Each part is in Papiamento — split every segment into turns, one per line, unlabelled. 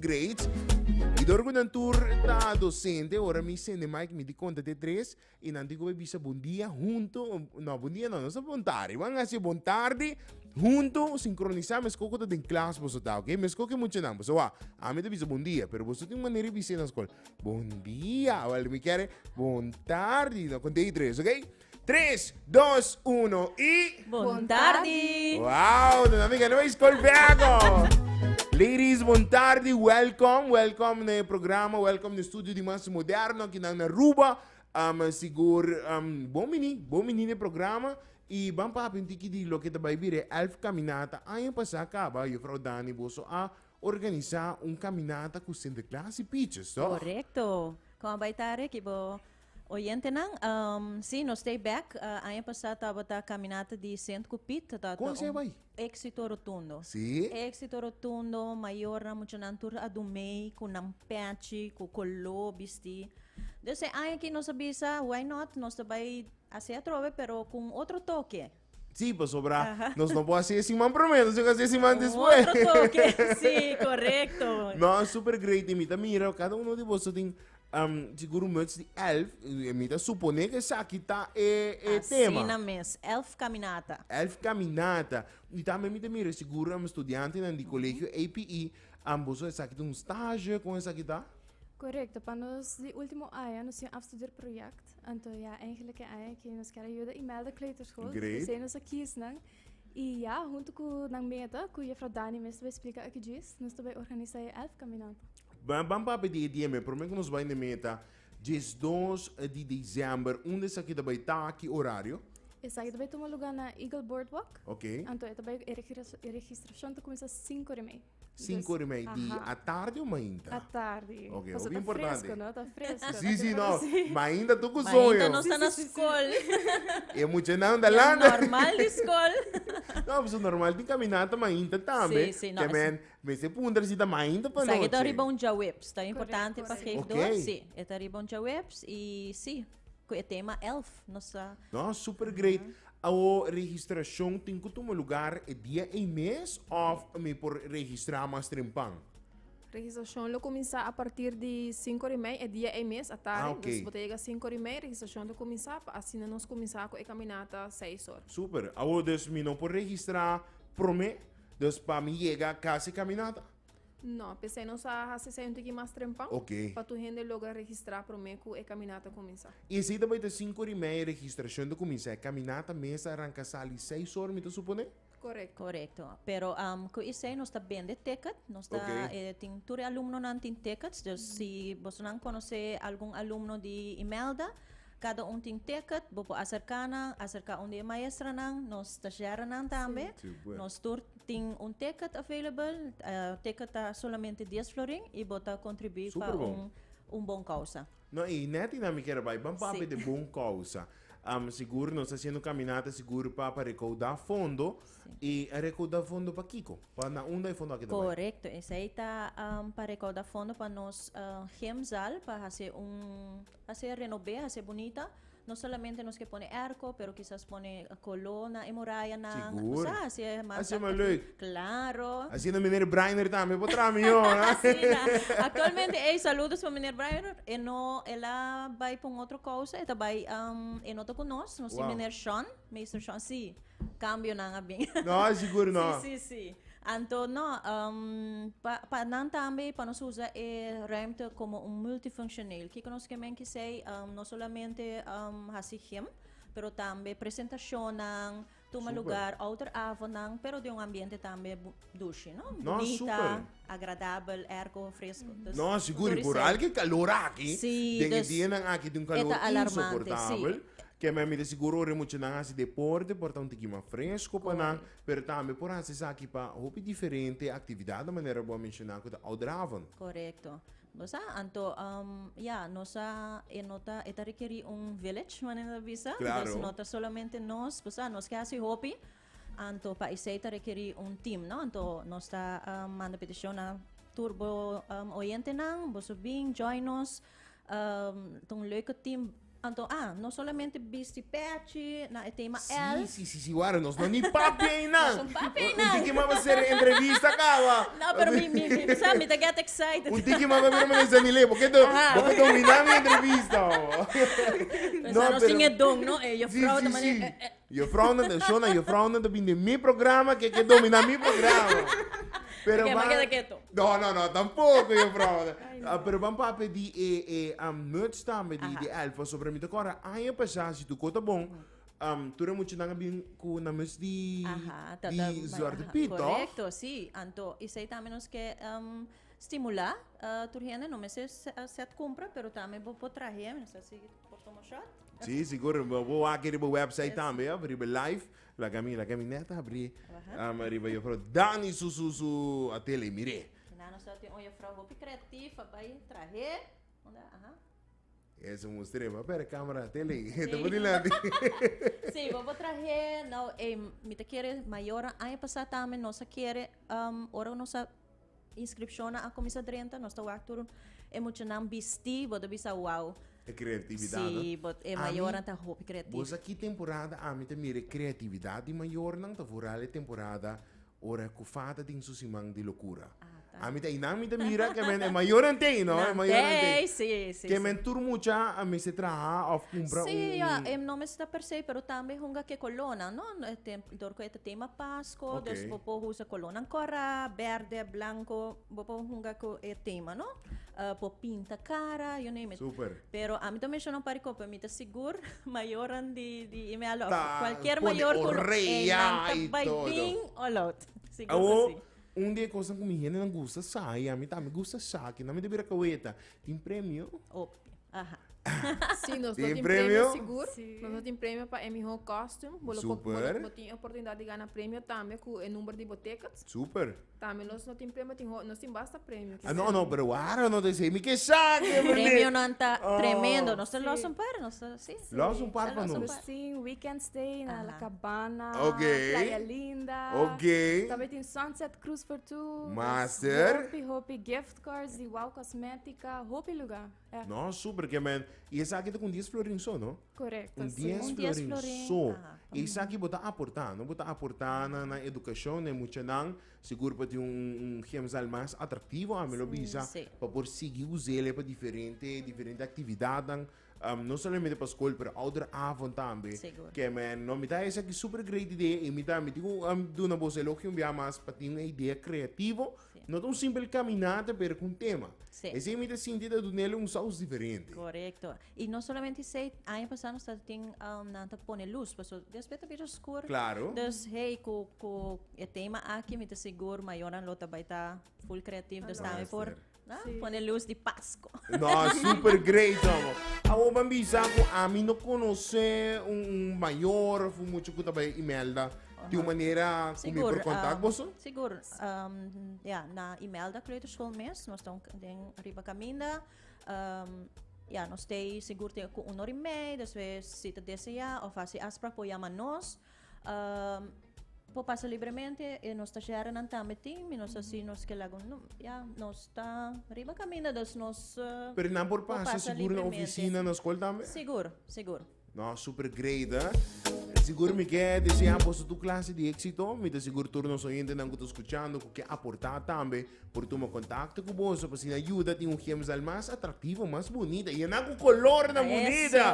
Great. Y dor cu nan tur ta docente, ora mi sende Mike mi di conta te tres y nan tin cube bisa bon dia hunto, no bon dia no, nos ta bon tardi, bo a haci bon tardi hunto sincronisa mesco cu ta den klas boso ta ok, mesco cu muchanan boso wak ami ta bisa bon dia pero boso tin un manera di bisa na scol bon dia, mi kere bon tardi, no con day tres ok. Tres, dos, uno y. Bon tardi!
Wow, nos amiga
no is call vego. Ladies, bon tardi, welcome, welcome na e programa, welcome na studio di mas moderno aki nan na Ruba. Um, sigur, um, bon mini, bon mini na e programa. Y ban papi un tiki di loke ta bay bira e elf caminata. Aña pasa caba, juffrouw Dani boso a organisa un caminata cu Sinterklaas y Pietjes, toch? Correcto. Con
a bay ta Ricky bo Oyentenan, sí, nos stay back. Aña pasá tabata Caminata di Sint cu Piet. Tabata un. Conse bai?
Exito rotundo.
Sí. Exito
rotundo,
mayornan, muchanan tur a dun mee cu nan pechi, cu coló bistí. Dus e aña aki nos a bisa, why not, nos ta bai hací atrobe pero cu un otro toke. Sí, pasobra
nos no por haci e siman prome, nos tin cu haci e siman despues. Un otro toque, sí,
correcto. No, super great
y mi ta mira, cada uno di boso tin Um, siguro much di elf, mi ta supone que esaki ta e, e Así tema. Así na mes,
elf caminata. Elf caminata.
Y también mi te mira, seguro um estudiante en el colegio APE, um, boso esaki ta un stage, con esaki ta? Correcto, pa
nos di último año nos tin afstudeer project. Anto ya, eigenlijk e aña aki nos kier a yuda i melda kleuterschool. Great. Dus esei nos a kies
nan.
I ya, huntu ku nan meta, ku jefrouw Dani mes ta bai splika aki djis, nos ta bai organisa e elf kaminata. Ba- Ban papia
di e dianan, prome ku nos bai na meta, diesdos di desèmber. Unda esaki ta bai ta? Ki orario? Esaki ta bai tuma
luga na Eagle Boardwalk. Oké. Anto e ta bai,
e regiras-
e registrashon ta kuminsá sinku di mei. Sinku ora i mei
di atardi o mainta? Atardi. Ok,
Paso hopi ta importante.
fresco, no? Ta fresco.
Si, si, no.
Mainta tu ku soño. Mainta nos ta na
skol. E
muchanan ta lanta. Ya normal di skol.
No, paso
normal tin kaminata mainta tambe. Si, si, no. Te men,
mester puntra
si ta mainta pa noche. Sa ke ta riba un djaweps.
Ta importante pa geef dor. Ok. Si, e
ta
riba
un
djaweps i si. Cu e tema elf nos ta. No, super great.
Awo registracion tin cu tuma lugar e dia ey mes of mi por registra mas trempan? Registracion
lo cuminsa a partir di cinco di mei e dia ey mes a tardi. Ah, ok. Dus bo ta yega cinco di
mei
registracion ta cuminsa pa asina nos cuminsa cu e caminata seis or. Super. Awo dus mi
no por registra prome, dus pa mi yega casi caminata? No, p'esei
nos a hasi esei un tiki mas trempan Oke. pa tur hende
logra
registrá promé ku e kaminata kuminsá. I esei ta bai ta sinku
ori mei e registrashon ta kuminsá. E kaminata mes ta ranka sali seis ora, mi ta suponé? Korekto. Korekto.
Pero
ku esei nos ta bende ticket. Nos ta Oke. e tin tur e
alumnonan
tin tickets. Dus si bosonan konosé algun alumno di Imelda, kada un tin ticket, bo por aserká nan, aserká un di e maestranan. Nos ta share nan tambe. Sí, pues. Nos tur
Tin
un ticket available, ticket ta solamente dies florin y bo ta contribui pa
un
bon
causa.
No, y net y nan
mi kier bai, ban papia de bon causa. Sigur nos ta haciendo caminata sigur pa recauda fondo, y a recauda fondo pa kico? Pa na unda e fondo aki ta bai? Corecto, esai ta
pa recauda fondo pa nos gym zaal, pa haci un, haci renobe, haci bunita. No solamente nos ke pone erko pero kisas pone koló na e morayanan. Sigur. Kusá hasi e hermano
Hasi e mas
Taktafi? lek.
Klaro. Asina
Meneer Brainer
tambe por traha mió. Asina. Aktualmente
ey, saludos pa Meneer Brainer. E no, el a bai pa un otro kousa. E ta bai, am, e no ta ku nos. Nos tin Wou. Meneer Shon,
Meester
Shon, sí. cambionan a bin. No, sigur no. Sí,
sí, sí. Anto,
no, um, pa, pa nan tambe, pa nos usa e ruimte como un multifunctioneel. Kiko nos ke men kisei, um, no solamente um, hasi gym, pero tambe presentacionnan, tuma Super. lugar,
ouderavonan,
pero den un ambiente tambe bu- Dushi, no? No, Bonita, super. agradabel, ergo fresco. Dus, No, sigur, y Tory bural Sel-
ke calor aki, Sí, den e dus, dianan
aki di
un calor
eta
alarmante, insoportabel, ke men
mi ta
sigur ora e muchanan hasi deporte por ta un tiki mas fresco pa nan, Correct. pero tambe por hasi esaki pa hopi diferente actividad, na manera bo a menciona cu ta outdravend. Correcto.
Bo sa, anto, um, ya, nos a, e no ta, e ta requeri un village, manera ta bisa. Claro. Dus no ta solamente nos, bo sa, nos ke hasi hopi. Anto pa esei ta rekeri un team no anto nos ta um, manda peticion na tur bo um, oyentenan boso bin join nos um, ta un leuke team anto ah no solamente bisti pechi na e tema L Sí, sí, sí, sí,
ware,
nos no ni
papi einan. Nos un papi Un einan. tiki
maba ser
entrevista kaba. no pero mi mi mi
sa mi ta get excited Un tiki maba bira mane
sa Milei, bo keto, Aha. bo keto mina mi entrevista. o.
Pensa no sin e don
no e Sí, juffrouw
sí, ta mane sí. eh, eh, Juffrounan
den show nan juffrounan ta bin den mi programa ke ke domina mi programa. Pero Oké, ma keda keto. No, no,
no, tampoko
juffrounan. Ah, pero ban papia di e e am muts tambe di di Aha. elfo sobra mi ta kòrda aña pasá si tu ko ta bon am tur e muchanan a bin ku nan muts di Aha, ta ta di mai Zwarte aha, Piet tòg? korekto, si. Anto
esei tambe nos ke em stimulá eh tur hende no mester se- eh sèt kumpra pero tambe bo por traha hember, mester a sigui Por toma shot? Sí, sigur.
Bo wak riba e website tambe, of riba e live. Laga mi, laga mi net abrí um riba Jufrouw Dani su, su, su atelier. Mir'é. Kina nos ta tin un
jufrouw hopi creatief, a bai trah'é. Unda, aha.
Esa un mustr'é. Papia de camera atelier. Sí. Ta por dilanti. Sí,
bo bo trah'é. Now, ey, mi ta kere mayornan. Aña pasá tambe nos a kere, um, ora nos a. Inscripcionnan a cuminsa drenta, nos ta wak tur e muchanan bisti, bo ta bisa wow. E creatividad
no? Sí, but e
mayornan ta hopi creativo. Bo sa ki temporada
ami ta mira e creatividad di mayornan? Ta vooral e temporada ora cu Fa ta den su siman di locura. Ami ta einan mi ta mira cu e mayornan ta ei no? E mayornan ta ei. Sí, sí, sí. Cu e men tur
mucha
a mester traha of cumpra un. Sí, ya, no mester
ta per se, pero tambe hunga cu e colonnan no? Dor cu e ta tema Pasco, okay. dus bo por usa
colornan
cora, verde, blanco, bo por hunga cu e tema, no? Uh, por pinta cara, you name it. Super. Pero a mi ta
menciona un
par de copa, mi ta sigur mayoran di, di e me alo. Cualquier mayor
cu
lo, e
nan
ta
bai bin o
lot. Sigur oh. que sí. Un
de cosas
que mi
gente no gusta sabe, a mí también gusta sabe, que no me debería cabeta. Tin premio? Op. Aha.
Sí, nos
tin premio sigur.
Nos
lo tin premio
pa e
mihó costume. Bo lo po, bo lo, bo tin
oportunidad di
gana premio tambe ku e number di bo tickets. Super. Tambe
nos lo tin
premio, tin ho, nos tin basta premio. Ah, no, no, pero waro
no te sei mi ke sa ke mende. Premionan ta
tremendo. Nos ta
los un
par, nos ta, sí. Los un par pa nos.
Nos tin
weekend stay
na La Cabana. Ok. Playa
Linda.
Ok. Tambe
tin sunset
cruise for two. Master. Nos hopi,
hopi gift.
Scores di wow cosmetica hopi lugar eh. No super ke men
y esaki ta con dies florin so no? Correcto un dies
florin
so y
esaki
bo ta aporta no bo ta aporta na educacion den mucha nan segur pa tin un gemsal mas atractivo ami lo bisa pa por sigi
usa
el pa diferente diferente actividad nan Um no solamente pa school pero ouder avond tambe. Segur. Ke men no
mi ta
esaki super great idea y mi ta mi digo um duna boso elogio un biaha mas pa tin un idea creativo. Sí. No ta un simpel caminata pero con tema. Sí. Esey mi ta sinti
ta
dunele un saus diferente. Correcto. Y no
solamente esey, aña pasa nos ta tin um nan ta pone luz paso despues ta bira oscur. Claro. Dus hey
cu
cu e tema aki mi ta segur mayonan lo ta bay ta full creativo dus Master. tambe por Ah, sí. Pone luz di
Pasco.
No, super
great, amo. Amo van bisa ku ami no konoce un, un mayor fu mucho ku tabay Imelda. Di un manera ku mi por kontak um, boso? Sigur. Um,
ja, na Imelda Kleuterschool mes, nos ta den riba kaminda. Um, ja, nos te sigur te ku unor imei, después si te desea of hasi afspraak por yama nos. por pasa libremente y nos tallernan tambe tin y nos así nos que lago no ya nos ta riba camina dus nos uh, Pero nan por pasa
pasa seguro na libremente. oficina, na school tambe? seguro seguro
No, super
great, hè? Sigur mi ke desea boso tu klase di éxito. Mi te sigur tur nos oyente nan ku ta escuchando ku ke aportá tambe por tuma kontakto ku boso pa sina yuda tin un gemsal mas atraktivo, mas bonita. Y nan ku kolor nan Eso. bonita.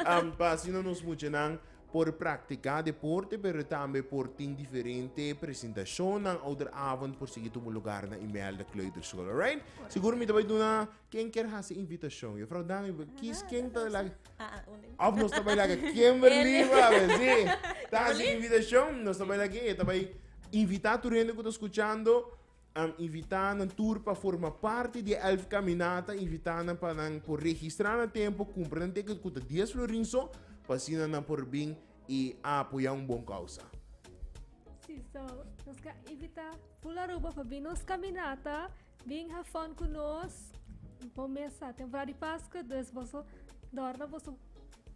Am, pa sina nos muchanan Por practica deporte pero tambe por tin diferente presentacionnan. Ouderavond por sigui tubo lugar na Imelda Kleuterschool. Alright? Sigur mi ta bay duna ken kier haci invitacion. Juffrouw Dami, kies ken ta laga? Of nos ta bay laga Kimberly, brother. Si, ta haci invitacion. Nos ta bay laga e ta bay invita tur hende cu ta scuchando. Am invitá nan tur pa forma parti di e Elf Kaminata. Invitá nan pa nan por registrá na tempu, kumpra nan ticket ku ta dies florin so, pa asina nan por bin i a apoyá un bon kousa. Sí,
so, nos ta invitá ful Aruba pa bin nos kaminata, bin ha fòn ku nos. Bo mes sa temporada di Paskua, dus boso dòrna boso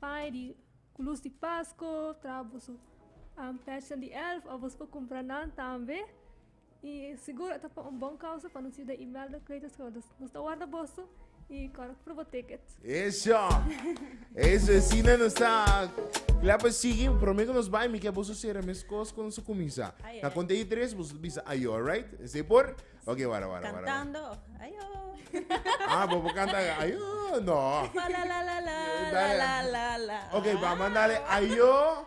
paña di ku lus di Paskua, traha boso pèchnan di Elf òf boso por kumpra nan tambe. I sigur a ta pa un bon kousa pa nos yuda Imelda, Cleitus Rhodes. Nos ta warda boso i kòrda ku proba ticket. Eso!
Eso, asina nos ta kla pa sigui. Promé ku nos bai mi ke boso sera meskos ku nos a kuminsá. Na konta di tres
boso ta
bisa ayo, alraight? Esei por? Oke, wara, wara, wara. Kantando òf
ayo. Ah, bo
por kanta ayo? No. Fa la la la la,
la la la la. Oke, bá mandale
ayo.